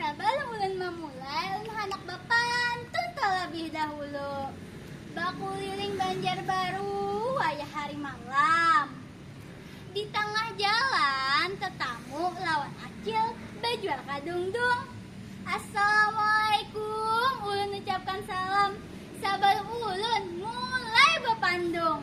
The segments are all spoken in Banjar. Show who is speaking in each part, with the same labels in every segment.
Speaker 1: Sabalum ulun mamulai, ulun handak bapantun talabih dahulu. Bakuliling Banjarbaru wayah hari malam. Di tangah jalan tetamu lawan Acil bajual kadungdung. Assalamualaikum, ulun ucapkan salam sabalum ulun mulai bapandung.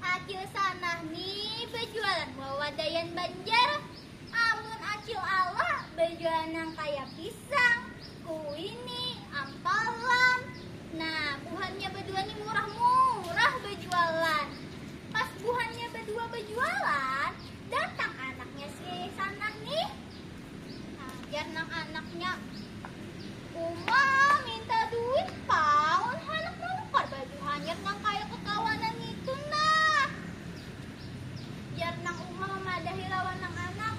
Speaker 1: Acil Sanah ni bajualan wawadaian Banjar. Amun Acil Alah bajualan nang kaya pisang, kuini, ampalam. Nah, buhannya badua ni murah-murah bajualan. Pas buhannya badua bajualan, datang anaknya si Sanah nih. Jar nang anaknya, Uma minta duit paun handak manukar baju hanyar nang kaya kekawanan ngitu nah. Jar nang uma mamadahi lawan nang anak,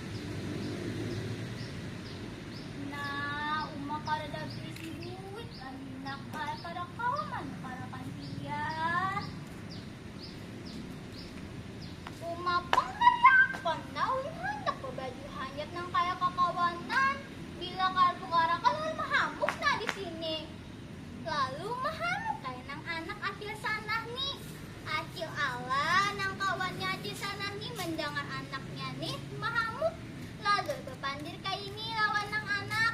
Speaker 1: Nah, uma kadada beisi duit lah ni nak ai, kada kawa manukarakan pian. Uma pang hayak pang Nawi handak babaju hanyar nang kaya kakawanan, bila kada tukar akan ulun mahamuk nah di sini. Lalu mahamuk kaya nang anak acil Sanah ni. Acil Alan nang kawannya acil Sanah ni mandangar anaknya nih mahamuk lalu bapandir kaini lawan nang anak.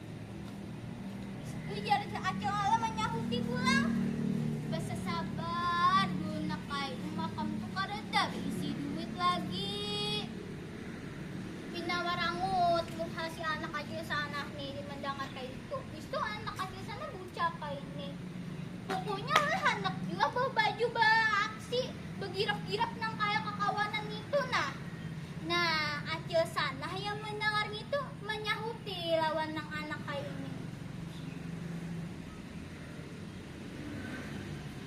Speaker 1: Ujar Acil Ala manyahuti pulang. Basasabar dulu nak ai, uma kam tu kadada baisi duit lagi. Pina marangut muha si anak kacil sana nih di mandangar kaitu. Bistu anak kacil sana bucah kaini. Pukunya ulah handak jua bawa baju baaksi, bagirap-girap nang kaya kakawanan ngitu nah. Nah, Acil sana hayam mandangar ngitu. Manyahuti lawan nang anak kaya ini.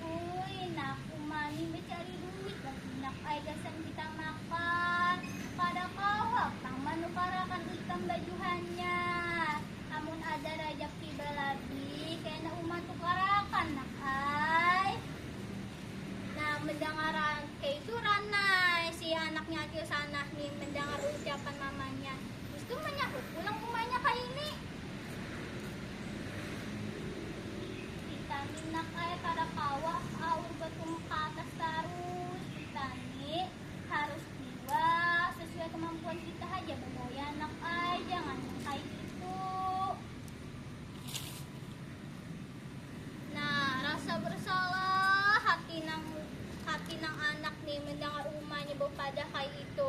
Speaker 1: Uy nak uma nih becari duit bahinak ai gasan kita makan kada kawa pang manukarakan ikam bajuhannya amun ada rajaki balabih kena uma tukarakan nak ai. Nah mendangar keitu ranai si anaknya acil sanah nih mendangar ucapan mamanya. Istu manyahut pulang umanya kaini. Ditani nak ai kada kawa aur batumuk ka atas tarus, ditani harus jua sasuai kamampuan kita haja bagaya nak ai, jangan nang kaya itu. Nah, rasa bersalah hati nang hati nang anak ni mendangar umanya bapadah kaya itu.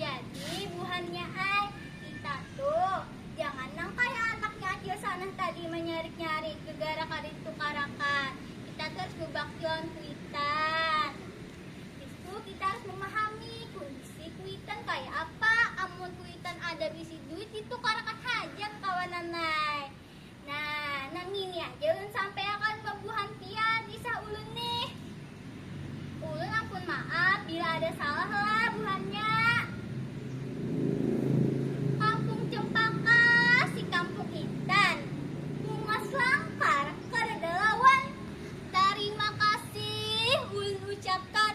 Speaker 1: Jadi buhannya ai, kita tu jangan nang kaya anaknya Acil Sanah tadi manyarik-nyarik gegara kada ditukarakan. Kita tu harus bebakti lawan kuitan. Habis tu kita harus memahami kondisi kuitan kaya apa. Amun kuitan ada bisi duit ditukarakan haja kakawanan ai. Nah, nang ngini aja ulun sampaiakan ka buhan pian kisah ulun nih. Ulun ampun maaf bila ada salah lah buhannya. Kampung Cempaka, si kampung intan. Bungas langkar kadada lawan. Tarima kasih ulun ucapkan.